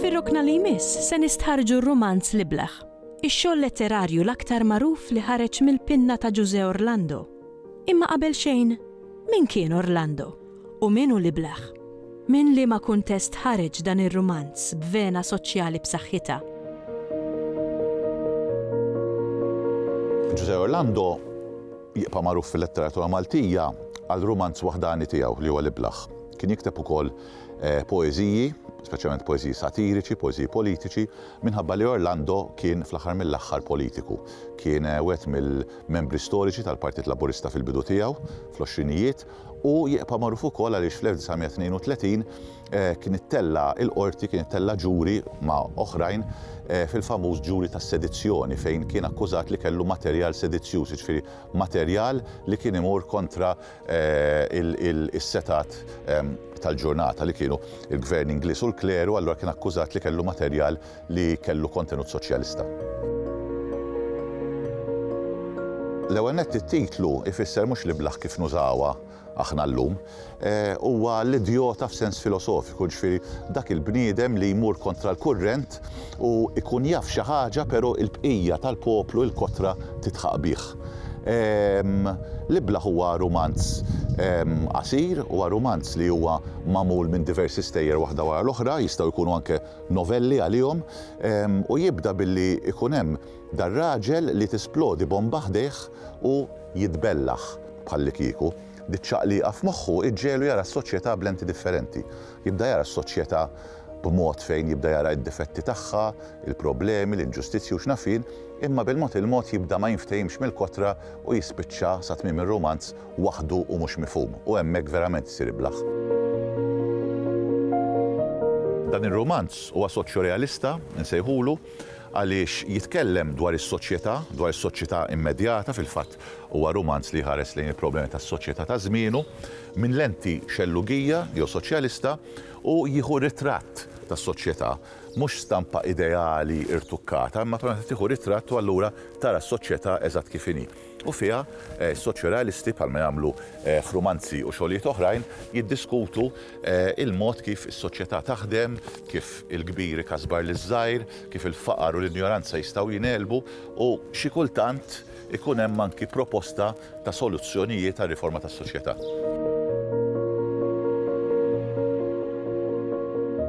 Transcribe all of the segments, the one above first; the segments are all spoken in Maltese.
Fir-rokna li jmiss se nistħarrġu r-rumanz L-Ibleħ, ix-xogħol letterarju l-aktar magħruf li ħareġ mill-pinna ta' Ġużè Orlando. Imma qabel xejn, min kien Orlando? u Min hu l-Iblah? Minn liema kuntest ħareġ dan ir-rumanz b'vena soċjali b'saħħitha? Ġużè Orlando jibqa' magħruf fil-letteratura Maltija għal rumanz waħdani tiegħu li huwa l-Iblah. Kien jikteb ukoll poeżiji, speċjalment poeżiji satiriċi, poeżiji politiċi, minħabba li Orlando kien fl-aħħar mill-aħħar politiku. Kien wieħed mill-membri storiċi tal-Partit Laburista fil-bidu tiegħu, fl-għoxrinijiet, Hu jibqa' magħruf ukoll għaliex fl-1932 kien ittella' il-Qorti, kien ittella' ġuri ma' oħrajn fil-famuż ġuri tas-sedizzjoni fejn kien akkużat li kellu materjal sedizzjuż, jiġifieri materjal li kien imur kontra is-setgħat tal-ġurnata li kienu l-Gvern Ingliż u l-kleru, allura kien akkużat li kellu materjal li kellu kontenut soċjalista. L-ewwel nett it-titlu ifisser mhux l-iblah kif nużawha aħna llum, huwa l-idjota f'sens filosofiku, ġifieri dak il-bniedem li jmur kontra l-kurrent u jkun jaf xi ħaġa però l-bqija tal-poplu, il-kotra tidħaq bih. L-iblah huwa rumanz qasir, huwa rumanz li huwa magħmul minn diversi stejjer waħda wara l-oħra, jistgħu jkunu anke novelli għalihom u jibda billi jkun hemm dar-raġel li tisplodi bomba ħdejh u jitbellaħ bħallikieku. Diċ-ċaqliqa f'moħħu iġġegħlu jara s-soċjetà b'lenti differenti. Jibda jara s-soċjetà b'mod fejn jibda jara d-difetti tagħha, il-problemi, l-inġustizzji u x'naf jien, imma bil-mod il-mod jibda ma jinftehimx mill-kotra u jispiċċa sa tmiem ir-rumanz waħdu u mhux mifhum, u hemmhekk verament isir iblah. Dan ir-rumanz huwa soċjorealista, insejħulu, għaliex jitkellem dwar is-soċjetà, dwar is-soċjetà immedjata, fil-fatt huwa rumanz li jħares lejn il-problemi tas-soċjetà ta' żmienu, minn lenti xellugija jew soċjalista, u jieħu ritratt tas-soċjetà, mhux stampa ideali rtukkata, imma tieħu ritratt u allura tara s-soċjetà eżatt kif inhi. u fiha s-soċjorealisti, bħalma jagħmlu f'rumanzi u xogħlijiet oħrajn, jiddiskutu l-mod kif is-soċjetà taħdem, kif il-kbir ikasbar liż-żgħir, kif il-faqar u l-injoranza jistgħu jingħelbu u, xi kultant, ikun hemm anki proposta ta' soluzzjonijiet għar-riforma tas-soċjetà.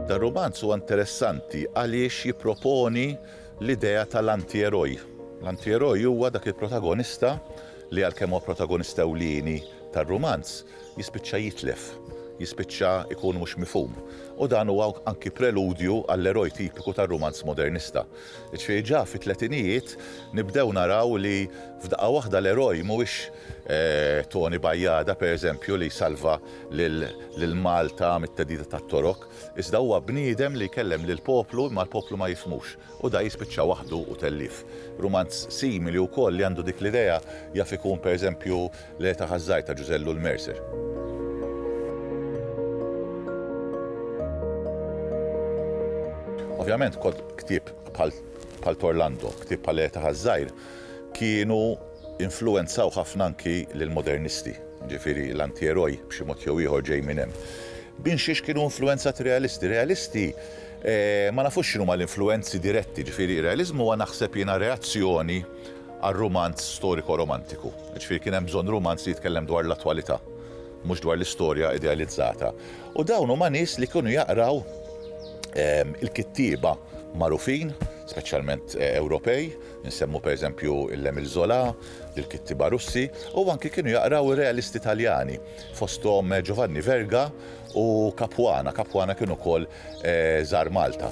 Dan ir-rumanz huwa interessanti għaliex jipproponi l-idea tal-antieroj. L-antieroj huwa dak il-protagonista li għalkemm huwa protagonista ewlieni tar-rumanz, jispiċċa jitlef, jispiċċa jkun mhux mifhum. U dan huwa anki preludju għall-eroj tipiku tar-rumanz modernista. Jiġifieri ġa fit-tletinijiet nibdew naraw li f'daqqa waħda l-eroj mhuwiex Toni Bajada, pereżempju, li jsalva lil Malta mit-theddida tat-Torok, Iżda huwa bniedem li jkellem lill-poplu imma l-poplu ma jifhmux u da jispiċċa waħdu u tellief. Rumanz simili wkoll li għandu dik l-idea jaf ikun per eżempju L-Għe ta' Ħaż-Żgħir ta' Ġużè Llul Mercer. Ovvjament ktieb bħal bħal t'Orlando, ktieb bħal L-Għe ta' Ħaż-Żgħir kienu influwenzaw ħafna anki lill-Modernisti, jiġifieri l-Antieroi b'xi mod jew ieħor ġej minn hemm. Bin xiex kienu influwenzati r-Realisti? Realisti ma nafux x'inhuma l-influwenzi diretti, jiġifieri r-Realiżmu huwa naħseb jiena reazzjoni għar-rumanz storiko-romantiku. Jiġifieri kien hemm bżonn rumanz li jitkellem dwar l-attwalità, mhux dwar l-istorja idealizzata. U dawn huma nies li kienu jaqraw il-kittieba magħrufin, speċjalment Ewropej, Insemmu pereżempju l-Emile Zola, lill-kittieba Russi, u anki kienu jaqraw ir-realisti Taljani, fosthom Giovanni Verga u Capuana, Capuana kien ukoll żar Malta.